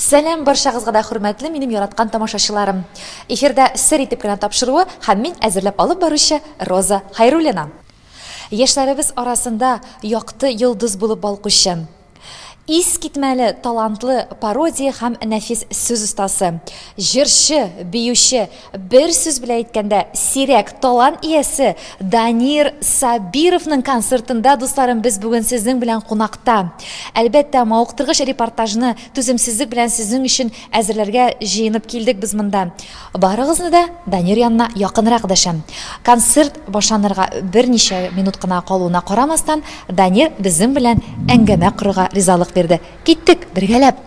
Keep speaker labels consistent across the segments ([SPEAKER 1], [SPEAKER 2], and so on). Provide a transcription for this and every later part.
[SPEAKER 1] Сәлам барчагызга да хөрмәтле минем яраткан тамашачыларым. Эфирда сер итеп кенә тапшыруы һәм мин әзерләп алып баручы Роза Хайруллина. Яшьләребез арасында якты йолдыз булып балкучы, искитмәле талантлы пародия һәм нәфис сүз остасы, җырчы, биюче, Бер сүз белән әйткәндә, сирәк талант иясе Данир Сабировның концертында, дусларым, без бүген сезнең белән кунакта. Әлбәттә, мавыктыргыч репортажны түземсезлек белән сезнең өчен әзерләргә җыенып килдек без монда. Барыгызны да Данир янына якынрак дәшәм. Концерт башланырга берничә минут кына калуына карамастан, Данир безнең белән әңгәмә корырга ризалык бирде. Киттек, бергәләп!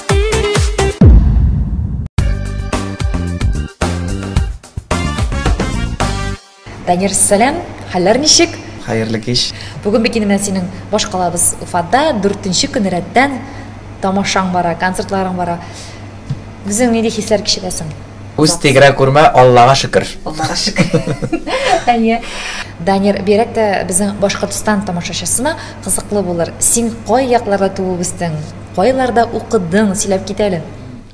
[SPEAKER 1] Данир Сәләм, хәлләр ничек? Хәерле кич.
[SPEAKER 2] Бүген бит инде синең
[SPEAKER 1] баш калабыз Уфада 4нче көн рәттән тамашаң бара, концертларың бара. Үзең нинди хисләр кичерәсең? Үз тигрә
[SPEAKER 2] күрмә, Аллага шөкер. Аллага
[SPEAKER 1] шөкер. Әйе. Данир, бирәк тә безнең Башкортстан тамашачысына кызыклы булыр. Син кай якларда туып үстең? Кайларда укыдың, сөйләп кит әле.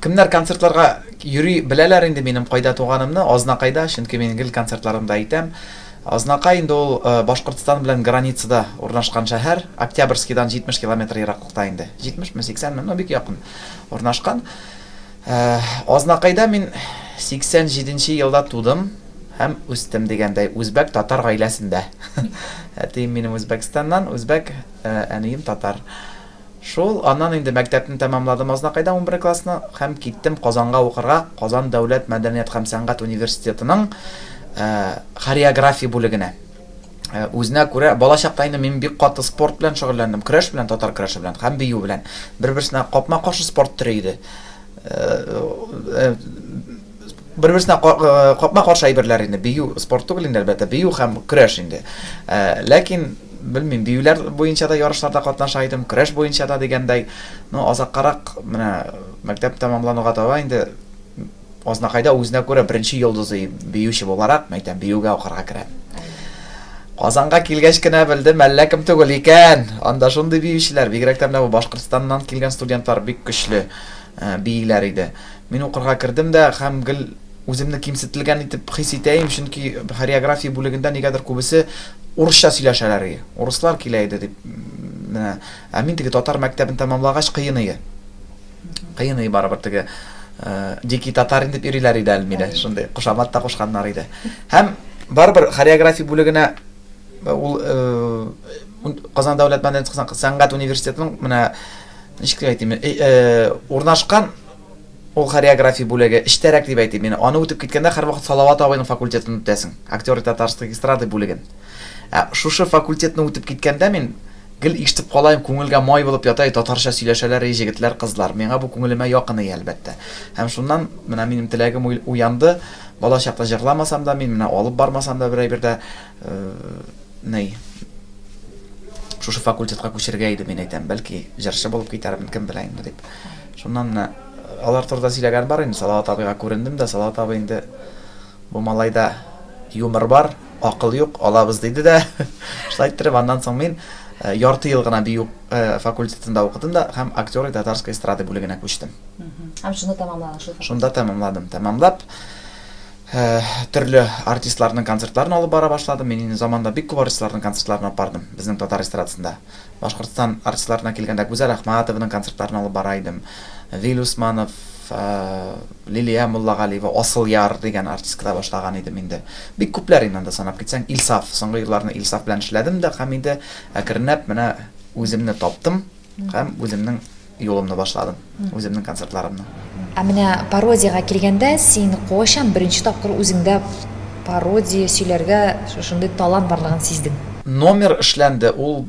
[SPEAKER 1] Кемнәр концертларга
[SPEAKER 2] йөри беләләр инде минем кайда туганымны, Азнакайда, чөнки мин гел концертларымда әйтәм. Азнакай инде ул Башкортстан белән границада урнашкан шәһәр, Октябрьскидан 70 километр ераклыкта инде, 70 ме, 80 ме, ну бик якын урнашкан. Азнакайда мин 87 нче елда тудым һәм үстем, дигәндәй, үзбәк татар гаиләсендә. Әтием минем Үзбәкстаннан, үзбәк, әнием татар. Шул, аннан инде мәктәпне тәмамладым Азнакайда унбер классны һәм киттем Казанга укырга Казан дәүләт мәдәният һәм сәнгать университетының хореография бүлегенә. Үзенә күрә, балачакта инде мин бик каты спорт белән шөгыльләндем, көрәш белән, татар көрәше белән һәм бию белән. Бер-берсенә капма-каршы спорт төре иде. Бер-берсенә капма-каршы әйберләр инде. Бию спорт түгел инде, әлбәттә, бию һәм көрәш инде. Ләкин, белмим, биюләр буенча да ярышларда катнаша идем, көрәш буенча да дигәндәй. Ну, азаккарак, менә мәктәп тәмамлануга таба инде азнакайда үзенә күрә беренче йолдызы биюче буларак, мәйтәм, биюгә укырга керә. Казанга килгәч кенә белдем, әллә кем түгел икән! Анда шундый биючеләр, бигрәк тә менә бу Башкортстаннан килгән студентлар бик көчле бииләр иде. Мин укырга кердем дә һәм гел үземне кимсетелгән итеп хис итә им, чөнки хореография бүлегендә нигәдер күбесе урысча сөйләшәләр ие. Урыслар килә иде дип менә. Ә мин теге татар мәктәбен тәмамлагач кыен ие. Кыен ие барыбер теге дикий татарин дип йөриләр иде әле мине, шундый кушамат та кушканнар иде. Һәм барыбер хореография бүлегенә ул Казан дәүләт мәдәният сәнгать университетының менә ничек дип әйтим, урнашкан Ул хореография бүлеге, эчтәрәк дип әйтим мин. Аны үтеп киткәндә, һәрвакыт Салават абыйның факультетын үтәсең, актеры татарской эстрады бүлеген. Ә шушы факультетны үтеп киткәндә мин гел ишетеп калаем, күңелгә май булып ята, әй, татарча сөйләшәләр, әй, җегетләр, кызлар. Миңа бу күңелемә якын ие, әлбәттә. Һәм шуннан менә минем теләгем уянды, бала чакта җырламасам да мин, менә алып бармасам да берәй бирдә, ни, шушы факультетка күчергә иде, мин әйтәм, бәлки, җырчы булып китәрмен, кем белә инде, дип. Шуннан менә алар турыда сөйләгән бар инде, Салават абыйга күрендем дә, Салават абый инде, Бу малайда юмор бар, акыл юк, алабыз, диде дә. Шулай иттереп, аннан соң мин ярты ел гына бию факультетында укыдым да һәм актёры татарской эстрады бүлегенә күчтем. Һәм шуны
[SPEAKER 1] тәмамладың шул факультет? Шунда тәмамладым.
[SPEAKER 2] Тәмамлап, төрле артистларның концертларын алып бара башладым. Мин инде заманда бик күп артистларның концертларына бардым, безнең татар эстрадасында. Башкортстан артистларына килгәндә, Гүзәл Әхмәтованың концертларын алып бара идем. Вил Усманов, Лилия Муллагалиева, Асыл яр дигән артисткада башлаган идем инде. Бик күпләр инде анда санап китсәң. Илсаф, соңгы елларны Илсаф белән эшләдем дә һәм инде әкренләп менә үземне таптым һәм үземнең Юлымны башладым, үземнең концертларымны. Ә менә
[SPEAKER 1] пародиягә килгәндә, син кайчан беренче тапкыр үзеңдә пародия сөйләргә шушындый талант барлыгын сиздең?
[SPEAKER 2] Номер
[SPEAKER 1] эшләнде,
[SPEAKER 2] ул,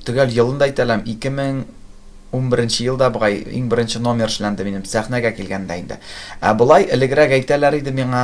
[SPEAKER 2] төгәл елын да әйтә
[SPEAKER 1] алам,
[SPEAKER 2] 2011 елда бугай иң беренче номер эшләнде минем, сәхнәгә килгәндә инде. Ә болай, элегрәк әйтәләр иде миңа,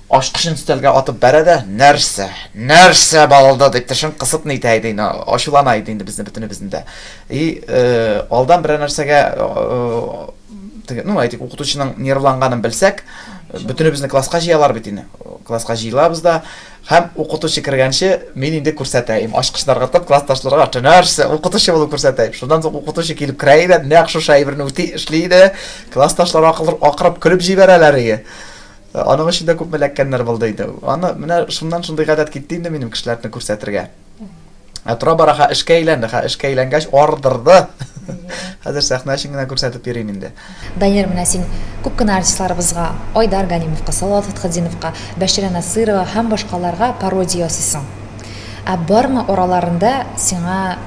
[SPEAKER 2] Ачкычын өстәлгә атып бәрә дә, Нәрсә? Нәрсә балды? дип тешен кысып нитә иде инде, ачулана иде инде безне бөтенебезне дә. И, алдан берәр нәрсәгә, теге, ну, әйтик, укытучының нервланганын белсәк, бөтенебезне класска җыялар бит инде. Класска җыелабыз да, һәм укытучы кергәнче мин инде күрсәтәем, ачкычны ыргытып, классташларга, Нәрсә? Укытучы булып күрсәтәем. Шуннан соң укытучы килеп керә иде, нәкъ шушы әйберне үти, эшли иде. Классташлар акырып көлеп җибәрәләр иде. Аның өчен дә күпме эләккәннәр булды инде. Аны менә шуннан шундый гадәт китте инде минем кешеләрне күрсәтергә. Ә тора-бара ха эшкә әйләнде, ха эшкә әйләнгәч ардырды. Хәзер сәхнә өчен генә күрсәтеп йөрим инде. Данир, менә син
[SPEAKER 1] күп кенә артистларыбызга, Айдар Галимовка, Салават Фәтхетдиновка, Бәширә Насыйрова һәм башкаларга пародия ясыйсың. Ә бармы араларында сиңа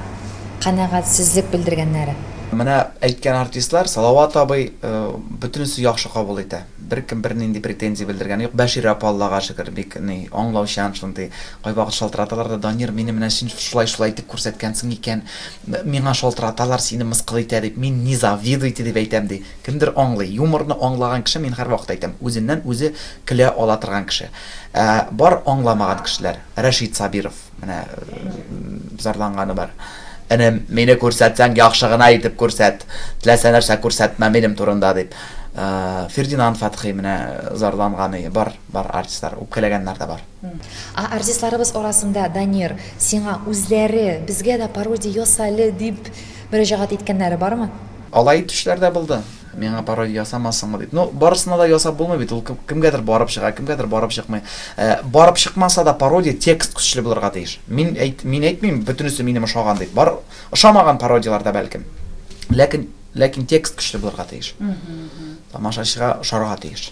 [SPEAKER 1] канәгатьсезлек белдергәннәре? Менә
[SPEAKER 2] әйткән артистлар, Салават абый бөтенесе яхшы кабул итә. Беркем бернинди претензия белдергәне юк. Бәширә апа, Аллага шөкер, бик ни, аңлаучан шундый. Кайвакыт шалтыраталар да, Данир, мине менә син шулай-шулай итеп күрсәткәнсең икән, миңа шалтыраталар, сине мыскыл итә дип, мин не завидуйте дип әйтәм, ди. Кемдер аңлый. Юморны аңлаган кеше, мин һәрвакыт әйтәм, үзеннән үзе көлә ала торган кеше. Ә бар аңламаган кешеләр. Рәшит Сабиров. Менә зарланганы бар. Энем, мине күрсәтсәң, яхшы гына итеп күрсәт. Теләсә нәрсә күрсәтмә минем турында дип. Э, Фердинанд Фатхи менә зарланганы бар, бар артистлар, үпкәләгәннәр дә бар. А артистларыбыз
[SPEAKER 1] арасында Данир, сиңа үзләре безгә дә пародия ясале дип мөрәҗәгать иткәннәре бармы? Алай итүчеләр
[SPEAKER 2] дә булды. Миңа пародия ясамасыңмы дип. Ну, барысына да ясап булмый бит, ул кемгәдер барып чыга, кемгәдер барып чыкмый. Ә, барып чыкмаса да пародия текст көчле булырга тиеш. Мин әйт, мин әйтмим, бөтенесе минем ошаган дип. Бар, ошамаган пародияләр дә бәлкем. Ләкин, ләкин текст көчле булырга тиеш. Тамашачыга ошарга тиеш.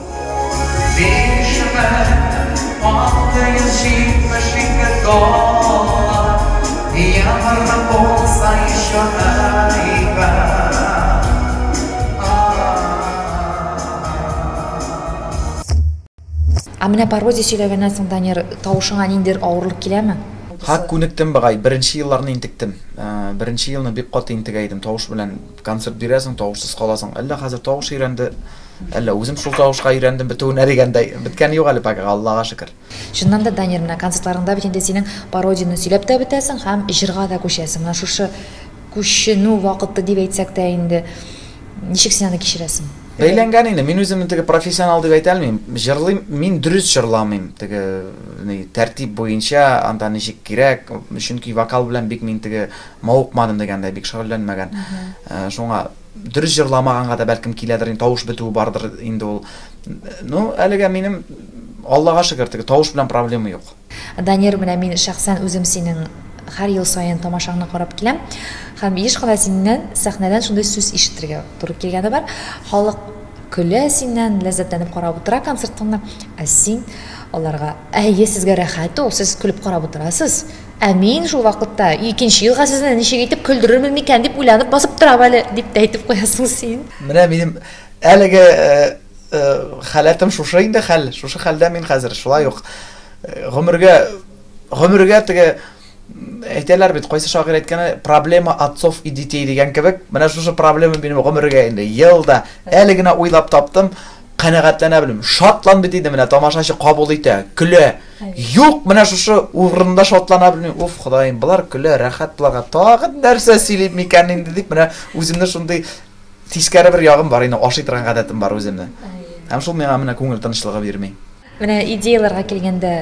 [SPEAKER 1] Ә менә пародия сөйләгәннән соң, Данир, тавышыңа ниндидер авырлык киләме? Һак, күнектем,
[SPEAKER 2] быгай. Беренче елларны интектем. Беренче елны бик каты интегә идем, тавыш белән. Концерт бирәсең, тавышсыз каласың. Әллә хәзер тавыш өйрәнде, әллә үзем шул тавышка өйрәндем бетүенә дигәндәй. Беткәне юк әле пока, Аллага шөкер. Чыннан да, Данир, менә
[SPEAKER 1] концертларыңда бит инде синең пародияне сөйләп тә бетәсең һәм җырга да күчәсең. Менә шушы күченү вакыты дип әйтсәк тә инде, ничек син аны кичерәсең? Бәйләнгән инде. Мин
[SPEAKER 2] үземне теге профессионал дип әйтә алмыйм. Җырлыйм, мин дөрес җырламыйм. Теге ни, тәртип буенча, анда ничек кирәк, чөнки вокал белән бик мин теге мавыкмадым дигәндәй, бик шөгыльләнмәгән. Шуңа дөрес җырламаганга да бәлкем киләдер, инде тавыш бетүе бардыр инде ул. Ну, әлегә минем Аллага шөкер, теге тавыш белән проблема юк. Данир, менә мин
[SPEAKER 1] шәхсән үзем синең һәр ел саен тамашаңны карап киләм һәм еш кына синнән сәхнәдән шундый сүз ишетергә туры килгәне бар халык көлә синнән ләззәтләнеп карап утыра концертыңны ә син аларга әйе сезгә рәхәт ул сез көлеп карап утырасыз Ә мин шул вакытта икенче елга сезне ничек итеп көлдерермен микән дип уйланып басып торам әле, дип тә әйтеп куясың син. Менә минем
[SPEAKER 2] әлеге халәтем шушы инде хәл, шушы хәлдә мин хәзер, шулай ук гомергә гомергә теге әйтәләр бит, кайсы шагыйрь әйткәне, проблема отцов и детей дигән кебек, менә шушы проблема минем гомергә инде ел да әле генә уйлап таптым, канәгатьләнә белмим. Шатланды диде менә тамашачы кабул итә, көлә. Юк, менә шушы урында шатлана белмим. Уф, Ходаем, болар көлә, рәхәт буларга. Тагын нәрсә сөйлим микән инде дип менә үземне шундый тискәре бер ягым бар инде, ашый торган гадәтем бар үземне. Һәм шул миңа менә күңел тынычлыгы бирми. Менә идеяләргә
[SPEAKER 1] килгәндә,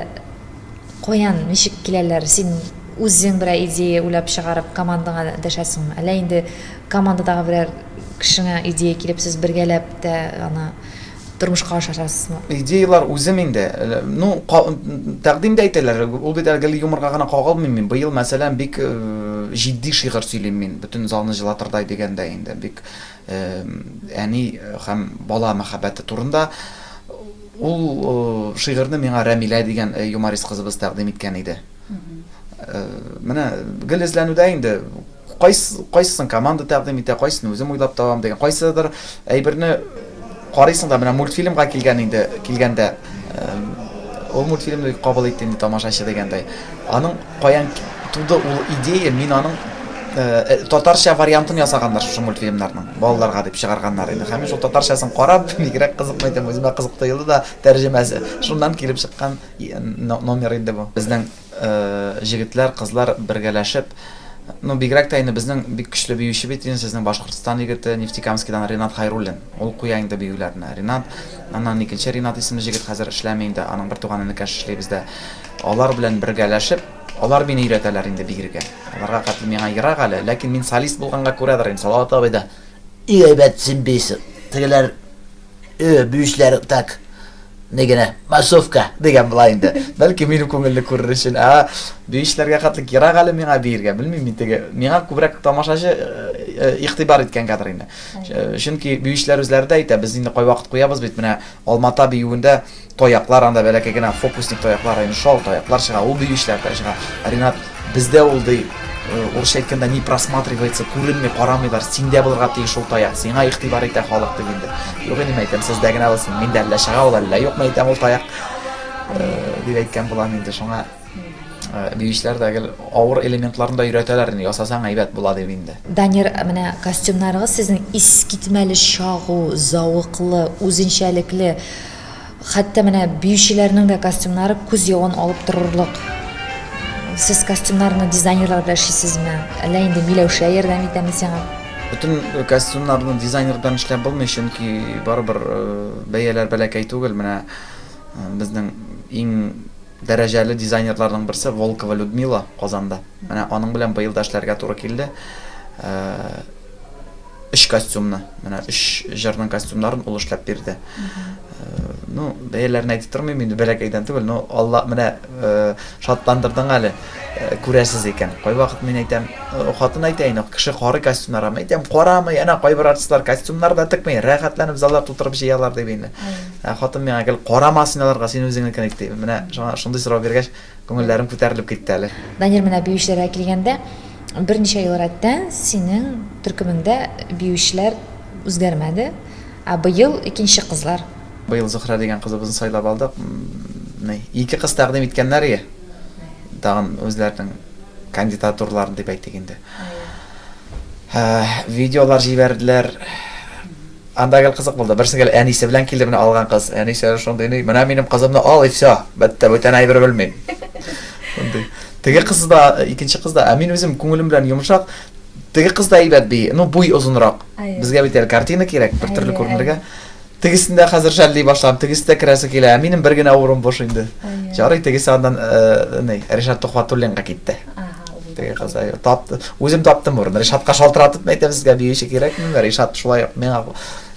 [SPEAKER 1] каян, ничек киләләр? Син үзең берәр идея уйлап чыгарып, командаңа дәшәсеңме? Әллә инде командадагы берәр кешеңә идея килеп, сез бергәләп тә аны тормышка ашырасызмы? Идеялар үзем
[SPEAKER 2] инде. Э, ну, тәкъдим дә әйтәләр. Ул бит әле юморга гына кагылмый мин. Быел, мәсәлән, бик э, җитди шигырь сөйлим мин. Бөтен залны җылатырдай дигәндә инде. Бик э, әни һәм бала мәхәббәте турында. Ул шигырьне миңа Рәмилә дигән юморист кызыбыз тәкъдим иткән иде. Э, менә гел эзләнүдә инде кайсы кайсысын команда тәкъдим итә кайсын үзем уйлап табам дигән кайсыдыр әйберне карыйсың да менә мультфильмга килгән инде килгәндә э, ул мультфильмны кабул итте инде тамашачы дигәндәй аның каян туды ул идея мин аның э, татарча вариантын ясаганнар шушы мультфильмнарның балаларга дип чыгарганнар иде һәм мин шул татарчасын карап бигрәк кызыкмый идем үземә кызык тоелды да тәрҗемәсе шуннан килеп чыккан Номер инде бу. Безнең җегетләр, кызлар бергәләшеп, ну бигрәк тә инде безнең бик көчле биюче бит инде сезнең Башкортстан егете, Нефтекамскидан Ринат Хайруллин. Ул куя инде биюләрне. Ринат, аннан икенче Ринат исемле җегет хәзер эшләми инде, аның бертуган энекәш эшли бездә. Алар белән бергәләшеп, алар мине өйрәтәләр инде бигергә. Аларга хәтле миңа ерак әле, ләкин мин солист булганга күрәдер инде, Салават абый да, Бик әйбәт син бийсең, тегеләр, Бүчләр так не генә массовка дигән була инде. Бәлки минем күңелле күрер өчен. А биешләргә хәтле кирәк әле миңа биергә, белмим мин теге. Миңа күбрәк тамашачы э, э, игътибар иткәнгәдер инде. Чөнки биешләр үзләре дә әйтә, без инде кайвакыт куябыз бит менә Алмата биюендә Таяклар анда бәләкәй генә фокусник таяклар инде шул таяклар чыга, ул бию эшләре чыга. Ренат бездә ул ди урысча әйткәндә не просматривается, күренми, карамыйлар. Синдә булырга тиеш шул таяк. Сиңа игътибар итә халык дип инде. Юк инде әйтәм, сездә генә булсын. Миндә әллә чыга ул әллә юкмы әйтәм ул таяк. Дип әйткән булам инде шуңа. Биючеләр дә гел авыр элементларын да өйрәтәләр инде. Ясасаң әйбәт була дип инде. Данир, менә
[SPEAKER 1] костюмнарыгыз сезнең искитмәле чагу, зәвыклы, үзенчәлекле. Хәтта менә биючеләрнең дә костюмнары күз явын алып торырлык. Сез костюмнарны дизайнерлар белән эшлисезме? Әллә инде Миләүшә ярдәм итәме сиңа? Бөтен э,
[SPEAKER 2] костюмнарны дизайнер белән эшләп булмый, чөнки барыбер э, бәяләр бәләкәй түгел. Менә э, безнең иң Дәрәҗәле дизайнерларның берсе Волкова Людмила, Казанда. Менә аның белән быел да эшләргә туры килде. Өч костюмны, менә өч җырның костюмнарын ул эшләп бирде. Ну, бәяләрен әйтеп тормыйм инде, бәләкәйдән түгел, но Алла менә шатландырдың әле, күрәсез икән. Кайвакыт мин әйтәм, хатын әйтә инде, кеше карый костюмнарга. Мин әйтәм, карамый, әнә кайбер артистлар костюмнар да текми, рәхәтләнеп заллар тутырып җыялар, дип инде. Ә хатын миңа гел, Карама син аларга, син үзеңне кенек, ди. Менә шуңа шундый сорау биргәч, күңелләрем күтәрелеп китте әле. Данир, менә биючеләргә
[SPEAKER 1] килгәндә, берничә ел рәттән синең төркемеңдә биючеләр үзгәрмәде, ә быел икенче кызлар. Быел Зөһрә дигән
[SPEAKER 2] кызыбызны сайлап алдык. Ни, ике кыз тәкъдим иткәннәр ие. Тагын үзләренең кандидатураларын дип әйтик инде. Видеолар җибәрделәр. Анда гел кызык булды. Берсе гел әнисе белән килде, менә алган кыз. Әнисе шундый ни, менә минем кызымны ал и все. Бетте, бүтән әйбер белмим. Шундый. Теге кыз да, икенче кыз да, ә мин үзем күңелем белән йомшак. Теге кыз да әйбәт би, ну буй озынрак. Безгә бит әле картина кирәк, бер төрле күренергә. Тегесендә хәзер шәлли башлам, тегесе дә керәсе килә, ә минем бер генә урын буш инде. Ярый, тегесе аннан, э, ни, Ришат Тухватуллинга китте. теге кыз тапты үзем таптым ворын ришатка шалтыратып мен әйтәм сезгә биюче кирәкмени ришат шулай ук миңа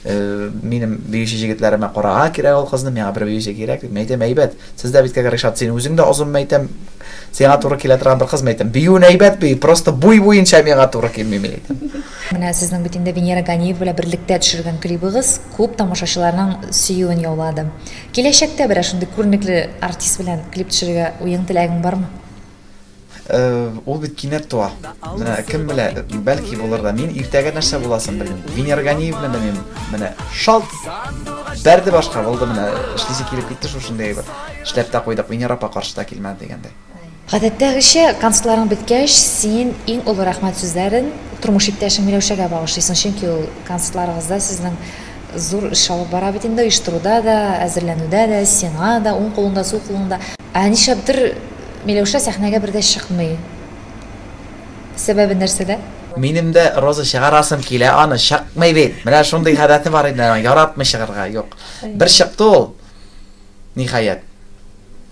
[SPEAKER 2] э, минем биюче җегетләремә карага кирәк ул кызны миңа бер биюче кирәк дип мен әйтәм әйбәт сез дә бит кәгә ришат син үзең дә озын мен әйтәм сиңа туры килә торган бер кыз мен әйтәм биюен әйбәт бию просто буй буенча миңа туры килми мен әйтәм менә сезнең бит
[SPEAKER 1] инде венера ганиева белән берлектә төшергән клибыгыз күп тамашачыларның сөюен яулады киләчәктә берәр шундый күренекле артист белән клип төшерергә уең теләгең бармы
[SPEAKER 2] Ул бит кинәт туа. Менә кем белә, бәлки булыр да. Мин иртәгә нәрсә буласын белмим. Венера Ганиев белән мин менә шалт бәрде башка булды менә. Эшлисе килеп китте шушындый бер. Эшләп тә куйдык. Венера апа каршыда килмәде дигәндәй. Гадәттәгечә,
[SPEAKER 1] концертларың беткәч, син иң олы рәхмәт сүзләрен тормыш иптәшең Миләүшәгә багышлыйсың, чөнки ул концертларыгызда сезнең зур эш алып бара бит инде, оештыруда да, әзерләнүдә дә, сиңа да, уң кулыңда, сул кулыңда. Ә нишләптер Миләүшә сәхнәгә бер дә чыкмый. Сәбәбе нәрсәдә? Минем дә
[SPEAKER 2] роза чыгарасым килә аны, чыкмый бит. Менә шундый гадәте бар инде аның, яратмый чыгарга. Юк. Бер чыкты ул, ниһаять.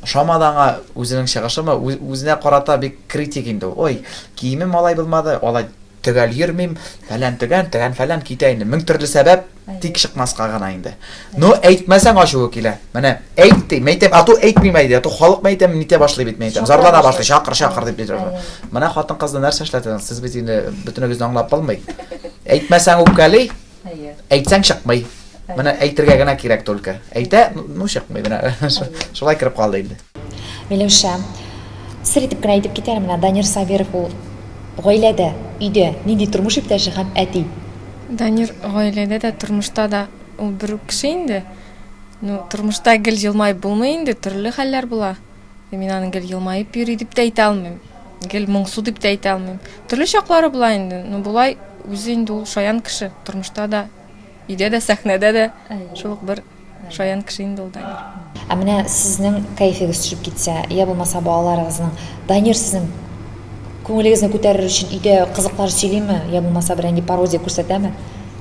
[SPEAKER 2] Ошамады аңа үзенең чыгышымы, үзенә карата бик критик инде ул. Ой, киеме малай булмады, алай Төгәл йөрмим, фәлән-төгән, тегән-фәлән, китә инде. Мең төрле сәбәп, тик чыкмаска гына инде. Ну, әйтмәсәң ачуы килә. Менә әйт ди, мәйтәм, ату әйтмим әйди, ату халык мәйтәм, нитә башлый бит мәйтәм. Зарлана башлый, чакыр, чакыр дип бит. Менә хатын-кызны нәрсә эшләтәсең? Сез бит инде бөтенегезне аңлап булмый. Әйтмәсәң үпкәли, Әйе. Әйтсәң чыкмый. Менә әйтергә генә кирәк только. Әйтә, ну чыкмый менә. Шулай кереп калды инде. Миләүшә,
[SPEAKER 1] сер итеп кенә әйтеп китәр менә Данир Сабиров ул гаиләдә, өйдә нинди тормыш иптәше һәм әти? Данир
[SPEAKER 3] гаиләдә дә, тормышта да ул бер үк кеше инде. Ну, тормышта гел елмаеп булмый инде, төрле хәлләр була. Мин аны гел елмаеп йөри дип тә әйтә алмыйм. Гел моңсу дип тә әйтә алмыйм. Төрле чаклары була инде. Ну болай үзе инде ул шаян кеше. Тормышта да, өйдә дә, сәхнәдә дә шул ук бер шаян кеше инде ул Данир. Ә менә сезнең
[SPEAKER 1] кәефегез төшеп китсә, я булмаса балаларыгызның Данир сезнең күңелегезне күтәрер өчен өйдә кызыклар сөйлиме, я булмаса бер нинди пародия күрсәтәме?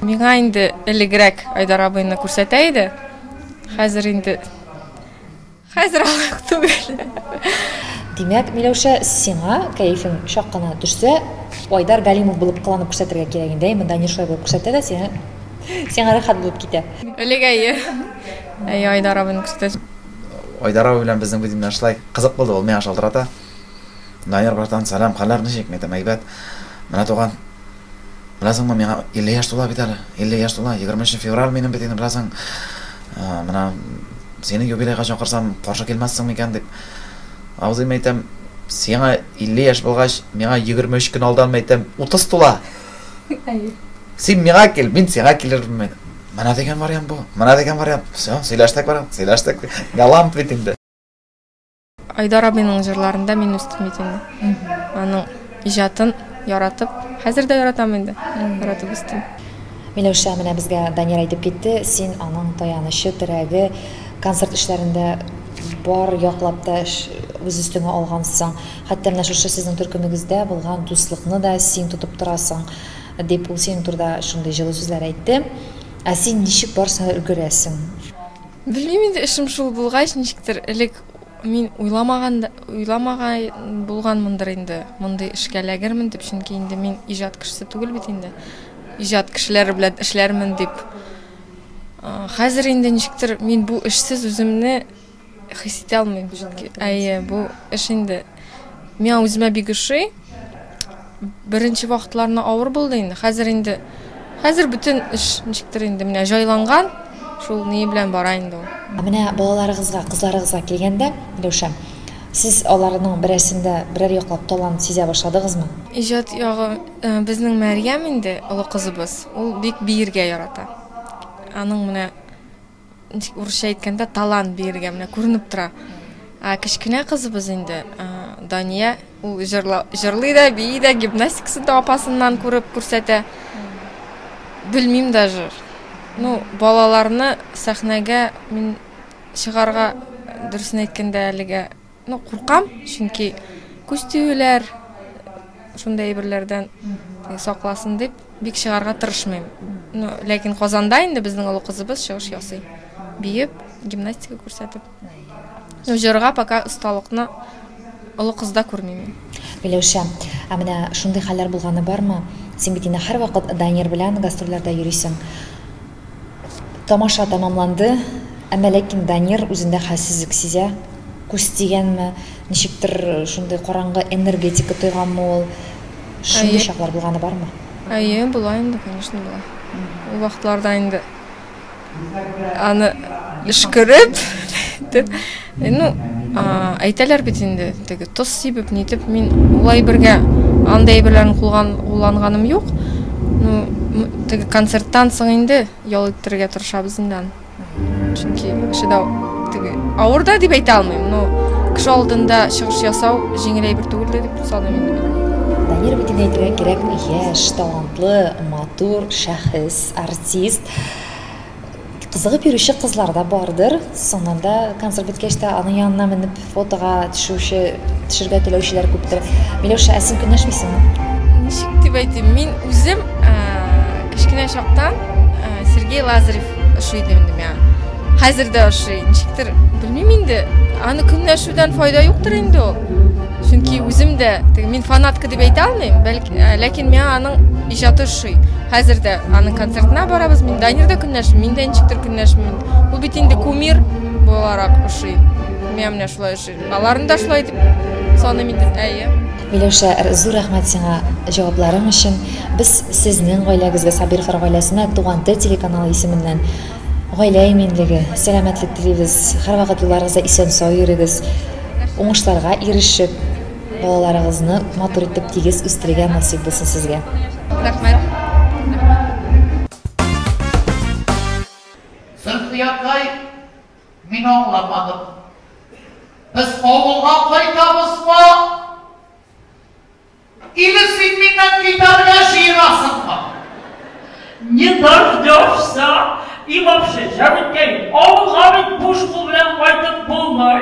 [SPEAKER 1] Миңа инде
[SPEAKER 3] элегрәк Айдар абыйны күрсәтә иде. Хәзер инде Хәзер алык түгел.
[SPEAKER 1] Димәк, Миләүшә, сиңа кәефең чак кына төшсә, Айдар Галимов булып кыланып күрсәтергә кирәк инде, әйе, Данир шулай булып күрсәтә дә, сиңа сиңа рәхәт булып китә. Элек әйе.
[SPEAKER 3] Әйе, Айдар абыйны күрсәтәсең. Айдар абый
[SPEAKER 2] белән безнең видео менә шулай кызык булды, ул миңа шалтырата. Данир братан, сәлам, хәлләр ничек? Мин әйтәм, әйбәт. Менә туган Беләсеңме, миңа 50 яшь тула бит әле. 50 яшь тула. 20 февраль минем бит инде, беләсең. Менә сине юбилейга чакырсам, каршы килмәссең микән дип. Абзыйм әйтәм, сиңа 50 яшь булгач, миңа 23 көн алдан әйтәм, 30 тула. Әйе. Син миңа кил, мин сиңа килермен. Менә дигән вариант бу. Менә дигән вариант. Все, сөйләштек, барам, сөйләштек. Галам бит инде.
[SPEAKER 3] Айдар абыйның җырларында мин үстем бит инде. Аның иҗатын яратып, хәзер дә яратам инде. Яратып үстем. Миләүшә, менә
[SPEAKER 1] безгә Данир әйтеп китте, син аның таянычы, терәге, концерт эшләрендә бар яклап та эш үз өстеңә алгансың. Хәтта менә шушы сезнең төркемегездә булган дуслыкны да син тотып торасың, дип ул синең турыда шундый җылы сүзләр әйтте. Ә син ничек барсына өлгерәсең? Белмим
[SPEAKER 3] инде, эшем шул булгач, ничектер элек мин уйламаган уйламагай булганмындыр инде. Мондый эшкә ләгермен дип, чөнки инде мин иҗат кешесе түгел бит инде. Иҗат кешеләре белән эшләрмен дип. Хәзер инде ничектер мин бу эшсез үземне хис итә алмыйм, чөнки әйе, бу эш инде Миңа үземә бик ошый. Беренче вакытларны авыр булды инде. Хәзер инде хәзер бөтен эш ничектер инде менә җайланган. Шул ни белән бара инде ул. Менә балаларыгызга,
[SPEAKER 1] кызларыгызга килгәндә, Илюша, сез аларның берәрсендә берәр яклап талант сизә башладыгызмы? Иҗат ягы
[SPEAKER 3] э, безнең Мәрьям инде, олы кызыбыз. Ул бик биергә ярата. Аның менә Ничек урысча әйткәндә, талант биергә менә күренеп тора. Ә кечкенә кызыбыз инде, Дания, ул җырлый да, бии дә, гимнастикасын да апасыннан күреп күрсәтә. Белмим даже. Ну, балаларны сәхнәгә мин чыгарга, дөресен әйткәндә, әлегә Ну, куркам, чөнки күз тиюләр, шундый әйберләрдән сакласын дип, бик чыгарга тырышмыйм. Ну, ләкин Казанда инде безнең олы кызыбыз чыгыш ясый. Биеп, гимнастика күрсәтеп. Ну, җырга пока осталыкны олы кызда күрмим мин. Миләүшә,
[SPEAKER 1] ә менә шундый хәлләр булганы бармы? Син бит инде һәрвакыт Данир белән гастрольләрдә йөрисең. Тамаша тәмамланды, әмма ләкин Данир үзендә хәлсезлек сизә. Күз тигәнме, ничектер шундый караңгы энергетика тойганмы ул? Шундый чаклар булганы бармы? Әйе, була инде,
[SPEAKER 3] конечно, була. Ул вакытларда инде аны өшкереп, дип Ну, әйтәләр бит инде, теге тоз сибеп, нитеп, мин улай бергә андай әйберләрен кулган кулланганым юк. Ну, теге концерттан соң инде ял иттерергә тырышабыз инде аны. Чөнки шедау теге авыр да дип әйтә алмыйм, но кеше алдында чыгыш ясау җиңел әйбер түгел дә дип саныйм инде мин. Данир бит инде
[SPEAKER 1] әйтергә кирәкми, яшь, талантлы, матур шәхес, артист. кызыгып йөрүче кызлар да бардыр соңыннан да концерт беткәч тә аның янына менеп фотога төшүче төшәргә теләүчеләр күптер миләүшә ә син көнләшмисеңме ничек дип
[SPEAKER 3] әйтим мин үзем кечкенә чактан сергей лазарев ошый иде инде миңа хәзер дә ошый ничектер белмим инде аны көнләшүдән файда юктыр инде ул чөнки үзем дә мин фанатка дип әйтә алмыйм бәлки Ә, ләкин миңа аның иҗаты ошый. Хәзер дә аның концертына барабыз. Мин Данирда көнләшмим, мин дә ничектер көнләшмим. Бу бит инде кумир буларак ошый. Миңа менә шулай ошый. Аларны да шулай дип саныйм инде. Әйе. Миләүшә, зур
[SPEAKER 1] рәхмәт сиңа җавапларың өчен. Без сезнең гаиләгезгә, Сабировлар гаиләсенә Туган тел телеканалы исеменнән гаилә иминлеге, сәламәтлек телибез. Һәрвакыт юлларыгызда исән-сау йөрегез. Уңышларга ирешеп, Балаларыгызны матур итеп тигез үстерергә насыйп булсын сезгә. Рәхмәт.
[SPEAKER 4] Зөлфия апкай, мин аңламадым. Без авылга кайтабызмы? Или син миннән китәргә җыенасыңмы?
[SPEAKER 5] Не дождешься. И вообще, җаныкәем, авылга бит буш кул белән кайтып булмый.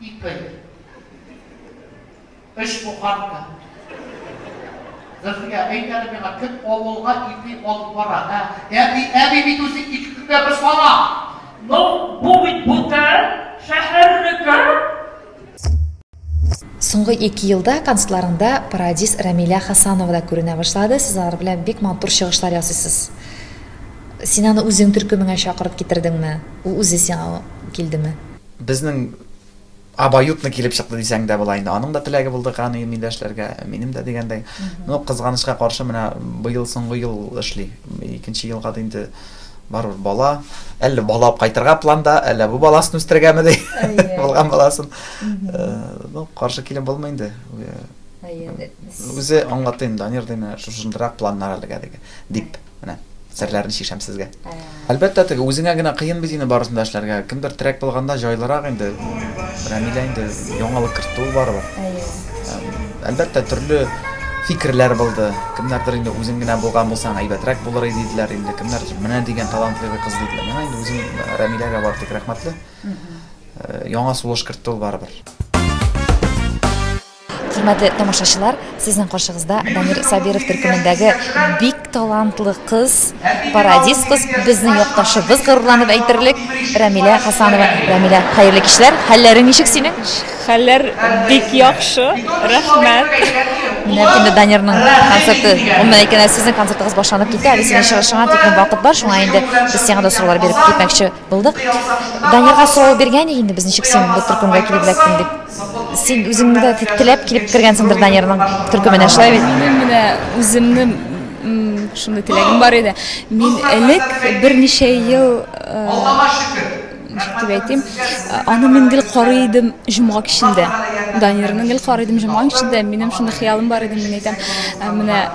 [SPEAKER 4] Ике. Өч буханка. Зөлфия, әйт әле миңа, кем авылга ипи алып бара, ә? Әби, әби бит үзе ике көнгә бер сала! Ну,
[SPEAKER 5] бу бит бүтән шәһәрнеке!
[SPEAKER 1] Соңгы ике елда концертларыңда Парадис Рәмилә Хасанова да күренә башлады. Сез алар белән бик матур чыгышлар ясыйсыз. Син аны үзең төркемеңә чакырып китердеңме? Ул үзе сиңа килдеме?
[SPEAKER 2] Безнең абаютно килеп чыкты дисәң дә була инде. Аның да теләге булды Кану милләшләргә, минем дә дигәндәй. Ну, кызганычка каршы, менә быел соңгы ел эшли. Икенче елга да инде барыр бала. Әллә бала алып кайтырга планда, әллә бу баласын үстергәме ди. Булган баласын. Ну, каршы килеп булмый инде. Үзе аңлатты инде, Данир, ди, менә шушындырак планнар әлегә дип. Менә серләрне чишәм сезгә. Ә. Әлбәттә, теге үзеңә генә кыен бит инде барысын да эшләргә. Кемдер трек булганда җайлырак инде. Рамилә инде яңалык кертте ул барыбер. Әлбәттә, төрле фикерләр булды. Кемнәрдер инде үзең генә булган булсаң әйбәтрәк булыр иде диделәр инде. Кемнәр менә дигән талантлы кыз диделәр. Менә инде үзем э, Рамиләгә бар тик рәхмәтле. Э, яңа сулыш кертте ул барыбер.
[SPEAKER 1] Хөрмәтле тамашачылар, сезнең каршыгызда Дамир Сабиров төркемендәге бик талантлы кыз, парадис кыз, безнең якташыбыз горурланып әйтерлек, Рәмилә Хасанова. Рәмилә, хәерле кичләр. Хәлләрең ничек синең? Хәлләр
[SPEAKER 6] бик яхшы. Рәхмәт. Менә
[SPEAKER 1] инде Данирның концерты, гомумән әйткәндә, сезнең концертыгыз башланып китә, әле синең чыгышыңа тиклем вакыт бар, шуңа инде без сиңа да сораулар биреп китмәкче. Булдык. Данирга сорау биргән ди инде без ничек син бу төркемгә килеп эләктең дип. Син үзеңне дә теләп килеп кергәнсеңдер Данирның төркеменә, шулай бит? Минем менә
[SPEAKER 6] үземне шундый теләгем бар иде. Мин элек берничә ел дип әйтим, аны мин гел карый идем җомга кичендә. Данирның гел карый идем җомга кичендә. Минем шундый хыялым бар иде, мин әйтәм, менә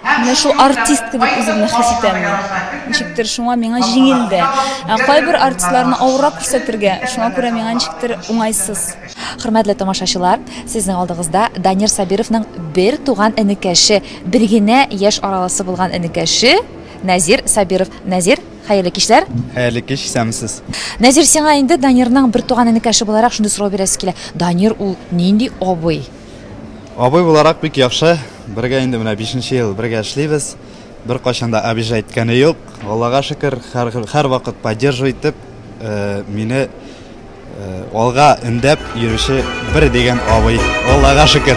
[SPEAKER 6] Менә шул артист кебек үземне хис итәм мин. Ничектер шуңа миңа җиңел дә. Ә кайбер артистларны авыррак күрсәтергә, шуңа күрә миңа ничектер уңайсыз. Хөрмәтле
[SPEAKER 1] тамашачылар, сезнең алдыгызда Данир Сабировның бер туган энекәше, бер генә яшь араласы булган энекәше Нәзир Сабиров. Нәзир, хәерле кичләр! Хәерле кич, исәнмесез!
[SPEAKER 7] Нәзир, сиңа инде
[SPEAKER 1] Данирның бер туган энекәше буларак шундый сорау бирәсе килә. Данир ул нинди абый? Абый
[SPEAKER 7] буларак бик яхшы. Бергә инде менә 5 нче ел бергә эшлибез. Беркайчан да обижа иткәне юк. Аллага шөкер, һәр һәр вакыт поддерживай итеп, э, мине э, алга өндәп йөрүче бер дигән абый. Аллага шөкер.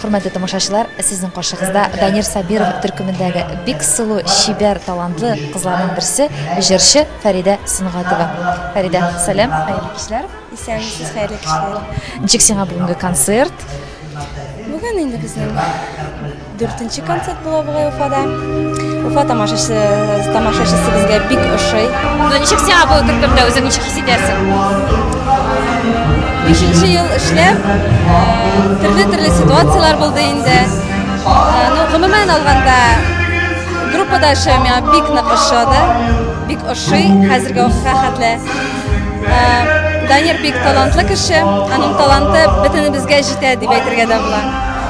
[SPEAKER 1] Хөрмәтле тамашачылар, сезнең каршыгызда Данир Сабиров төркемендәге бик сылу, чибәр, талантлы кызларның берсе, җырчы Фәридә Сөнгатова. Фәридә, сәлам, хәерле кичләр. Исәнмесез, хәерле
[SPEAKER 6] кичләр. Ничек сиңа бүгенге
[SPEAKER 1] концерт?
[SPEAKER 6] Бүген инде безнең Дүртенче концерт була бугай Уфада. Уфа тамашачысы тамашачысы безгә бик ошый. Ну ничек сиңа бу
[SPEAKER 1] төркемдә үзең ничек хис итәсең?
[SPEAKER 6] Бишенче ел эшләп, төрле-төрле ситуацияләр булды инде. Ну, гомумән алганда, группада эшләү миңа бик нык ошады. Бик ошый хәзерге вакытка хәтле. Данир бик талантлы кеше, аның таланты бөтенебезгә җитә дип әйтергә дә була.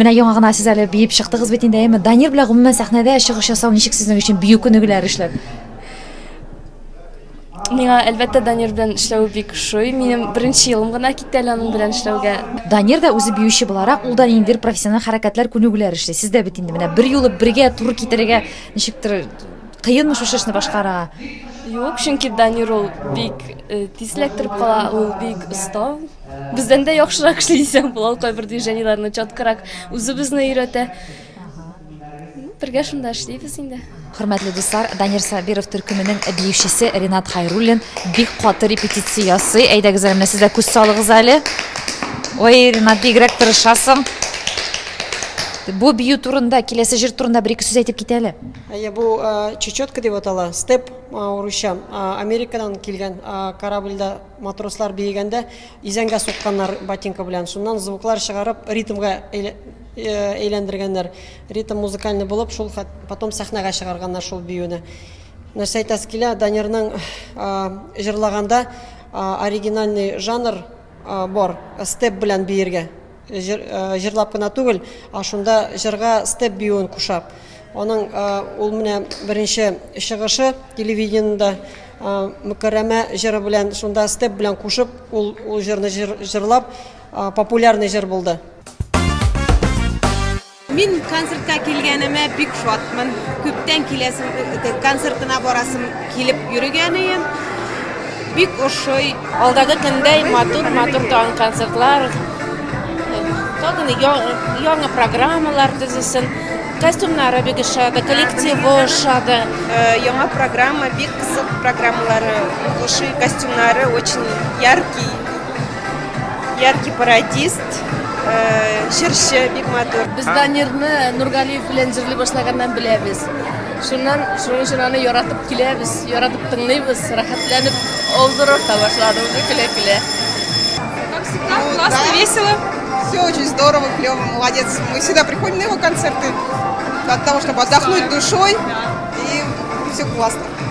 [SPEAKER 1] Менә яңа гына сез әле биеп чыктыгыз бит инде, әйме? Данир белән гомумән сәхнәдә чыгыш ясау ничек сезнең өчен бию күнегүләре эшләп?
[SPEAKER 6] Миңа, әлбәттә, Данир белән эшләве бик ошый. Минем беренче елым гына китте әле аның белән эшләүгә. Данир да үзе
[SPEAKER 1] биюче буларак, ул да ниндидер профессиональ хәрәкәтләр, күнегүләр эшли. Сез дә бит инде менә бер юлы бергә туры китерергә ничектер кыенмы шушы эшне башкарырга? Юк, чөнки
[SPEAKER 6] Данир ул бик э, тиз эләктереп кала, ул бик оста. Бездән дә яхшырак эшли дисәм була, ул кайбер движениеләрне чаткарак үзе безне өйрәтә. Бергә шунда эшлибез инде. Хөрмәтле дуслар,
[SPEAKER 1] Данир Сабиров төркеменең биючесе Ренат Хайруллин бик каты репетиция ясый. Әйдәгез әле менә сез дә күз салыгыз әле. Ой, Ренат, бигрәк тырышасың. Бу бию турында, киләсе җыр турында бер ике сүз әйтеп кит әле. Әйе, бу э,
[SPEAKER 8] чечетка дип атала, степ э, урысча. Э, Америкадан килгән корабльдә матросслар биегәндә изәнгә сукканнар ботинка белән. Шуннан звуклар чыгарып, ритмга Әйләндергәннәр. Ритм музыкальный булып, шул хәт потом сәхнәгә чыгарганнар шул биюне. Нәрсә әйтәсе килә, Данирның җырлаганда оригинальный жанр бар, степ белән биергә. Җыр, җырлап кына түгел, а шунда җырга степ биюен куша. Аның ул менә беренче чыгышы телевидениедә Мөкәррәмә җыры белән, шунда степ белән кушып, ул ул җырны җыр, җырлап, Популярный җыр булды.
[SPEAKER 9] Мин концертка килгәнемә бик шатмын. Күптән киләсем концертына барасым килеп йөргән идем. Бик ошый. Алдагы көндә
[SPEAKER 3] матур, матур тагын концертлар. Тагын яңа программалар төзесен. Костюмнары бик ошады, коллективы ошады. Э, яңа
[SPEAKER 9] программа, бик кызык программалары, ошый костюмнары очень яркий. Яркий пародист, э, җырчы, бик матур. Без Данирны
[SPEAKER 3] Нургалиев белән җырли башлаганнан беләбез. Шуннан шуның өчен аны яратып киләбез, яратып тыңлыйбыз, рәхәтләнеп авызрак та башлады уже көлә-көлә. Как
[SPEAKER 9] всегда, ну, классно, да. весело. Все очень здорово, клево, молодец. Мы всегда приходим на его концерты для того, чтобы отдохнуть душой. Да. И все классно.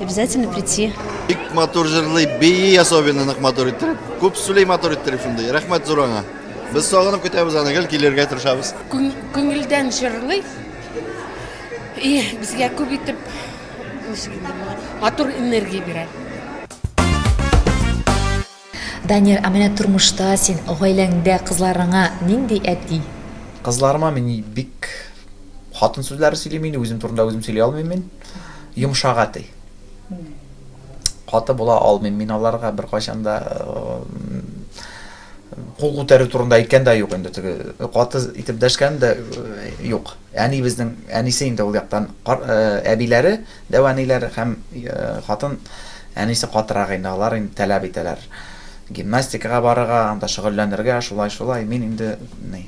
[SPEAKER 10] Обязательно прийти. Бик матур җырлый,
[SPEAKER 11] бии особенно нык матур иттереп. Күп сүли матур иттереп шундый. Рәхмәт зур аңа. Без сагынып көтәбез аны, гел килергә тырышабыз. Күңелдән
[SPEAKER 3] җырлый. И безгә күп итеп
[SPEAKER 12] матур энергия бирә.
[SPEAKER 1] Данир, ә менә тормышта син гаиләңдә кызларыңа нинди әти? Кызларыма мин
[SPEAKER 2] бик хатын сүзләре сөйлим инде, үзем турында үзем сөйли алмыйм мин. Йомшак әти. Каты була алмыйм мин аларга беркайчан да кул күтәрү турында әйткән дә юк инде теге каты итеп дәшкән дә юк әнибезнең әнисе инде ул яктан әбиләре Дәү әниләр һәм хатын әнисе катырак инде, алар инде тәләп итәләр. Гимнастикага барырга, анда шөгыльләнергә, шулай, шулай. Мин инде ни.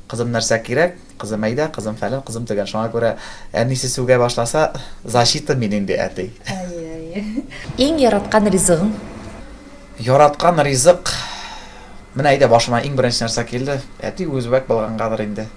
[SPEAKER 2] Кызым нәрсә кирәк, кызым әйдә, кызым фәлән, кызым төгән. Шуңа күрә әнисе сүгә башласа, защита мин инде әти. Әйе,
[SPEAKER 1] әйе. Иң яраткан ризыгың?
[SPEAKER 2] Яраткан ризык. Менә әйдә башыма иң беренче нәрсә килде. Әти үзбәк булгангадыр инде.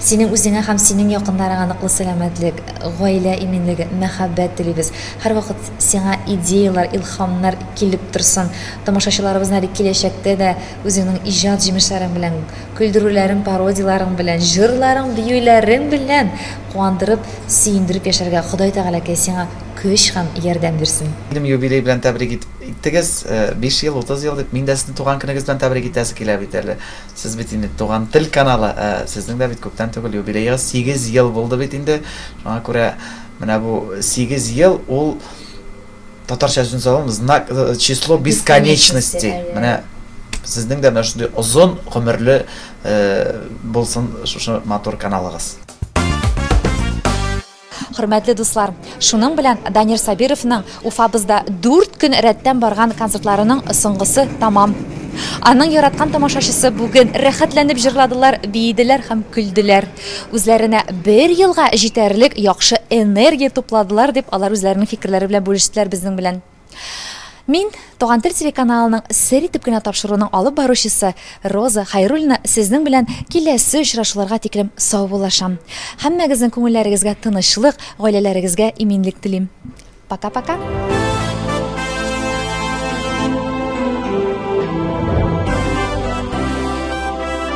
[SPEAKER 1] Синең үзеңә һәм синең якыннарыңа ныклы сәламәтлек, гаилә иминлеге, мәхәббәт телибез. Һәрвакыт сиңа идеяләр, илһамнар килеп торсын. Тамашачыларыбызны әле киләчәктә дә үзеңнең иҗат җимешләрең белән, көлдерүләрең, пародияләрең белән, җырларың, биюләрең белән куандырып, сөендереп яшәргә Ходай Тәгаләкәй сиңа көч һәм ярдәм бирсен. Минем юбилей белән
[SPEAKER 2] тәбрик иттегез, биш ел, утыз ел дип, мин дә сезне туган көнегез белән тәбрик итәсе килә бит әле. Сез бит инде Туган тел каналы, ә сезнең дә бит күптән түгел юбилеегыз, сигез ел булды бит инде. Шуңа күрә менә бу сигез ел ул татарча сүз алам, знак э, число бесконечности. Менә сезнең дә менә шундый озын гомерле э, булсын шушы матур каналыгыз.
[SPEAKER 1] Хөрмәтле дуслар, шуның белән Данир Сабировның Уфабызда дүрт көн рәттән барган концертларының соңгысы тәмам. Аның яраткан тамашачысы бүген рәхәтләнеп җырладылар, биеделәр һәм көлделәр. Үзләренә бер елга җитәрлек яхшы энергия тупладылар, дип алар үзләренең фикерләре белән бүлештеләр безнең белән. Мин Туган тел телеканалының сер итеп кенә тапшыруның алып баручысы Роза Хайруллина сезнең белән киләсе очрашуларга тиклем саубуллашам. Һәммәгезнең күңелләрегезгә тынычлык, гаиләләрегезгә иминлек телим. Пока-пока.